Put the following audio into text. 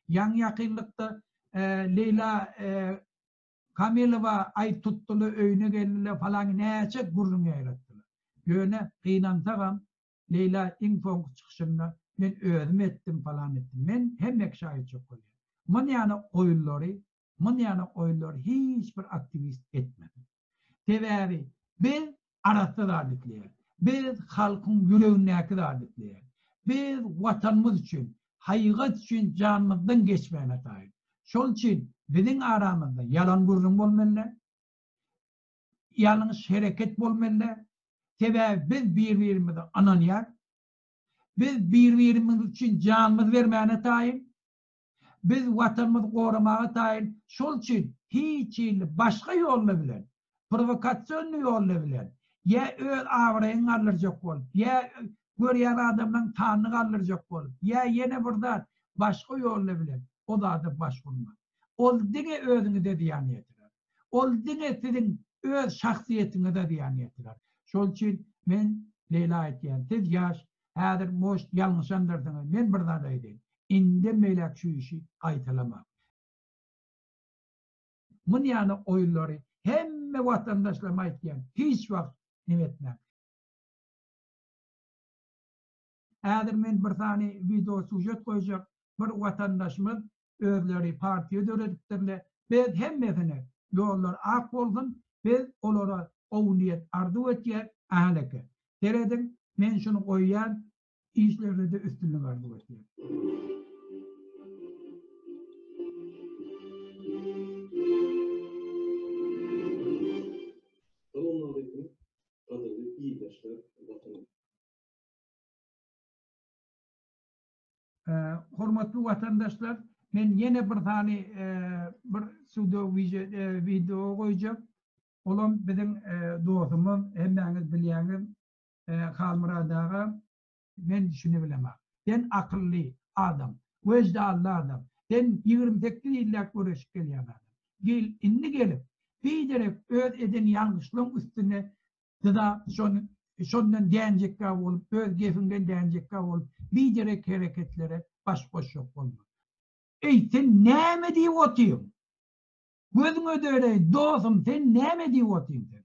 Ýaňy-ýakynlykda Leýla Kamilowa aý tutdular, öýüne geldiler, falaňky näçe gürrüň ýaýratdylar. Ýöne, gynansagam, Leýla iň soňky çykyşynda, Men özüm etdim, falan etdim. Men hemmekä şaýytjyk bolýan. Manyýany goýunlary Muny ýaly oýunlary hiç bir aktiwist etmedi. Sebäbi biz arassa zat isleýäris. Biz halkyň ýüregindäki zady isleýäris. Biz Watanymyz üçin, haýygat üçin janymyzdan geçmäne taýyn. Şol üçin biziň aramyzda ýalan gürrüň bolmaly däl. Ýalňyş hereket bolmaly däl. Sebäbi biz bir-birimize ynanýarys. Biz bir-birimiz üçin janymyzy bermäne taýyn. Biz Watanymyzy goramaga taýyn, şol üçin hiç hili başga ýolla bilen, prowokasionny ýolla bilen, ýa öz abraýyňy galdyrjak bolup, ýa görýän adamlaryň sanyny galdyrjak bolup, ýa ýene bir zat, başga ýolla bilen o zada baş urma. Ol diňe özüňize zyýan ýetirer. Ol diňe siziň öz şahsyýetiňize zyýan ýetirer. Şol üçin men Leýla aýtýan, siz ýaş, Häzir most ýalňyşanlarsyňyz men bir zat aýdaýyn indem beýläk şu işi gaýtalamaň. Mun ýaly oýunlary hemme watandaşlaryma aýtýan hiç wagt neme etmäň. Häzir men bir sany wideo sujet goýjak bir watandaşymyz özleri partiýa döredipdirle biz hemmesine ýollar ak bolsun biz olara gowy niýet arzuw etýäs Ahaneke serediň men şuny goýýan işlerdede üstünlik arzuw etýän. Hormatly watandaşlar, men ýene bir sany bir sudo wideo goýjak. Olam biziň dostumyz, hemmäňiz bilýäňiz, Halmyrat aga, men şuny bilemak. Sen akylly adam, wejdally adam, sen ýigrimi sekiz ýylläp göreşip gelýän adam. Gel, indi gelip, biderek öz eden ýalňyşlaň üstüne Siz-a şony şondan dänjekkä bolup, öz gepiňden dänjekkä bolup, biderek hereketlere baş goşjak bolma. Eý, sen näme diýip otyň? Gözüň ödereý, dosum, sen näme diýip otyň sen?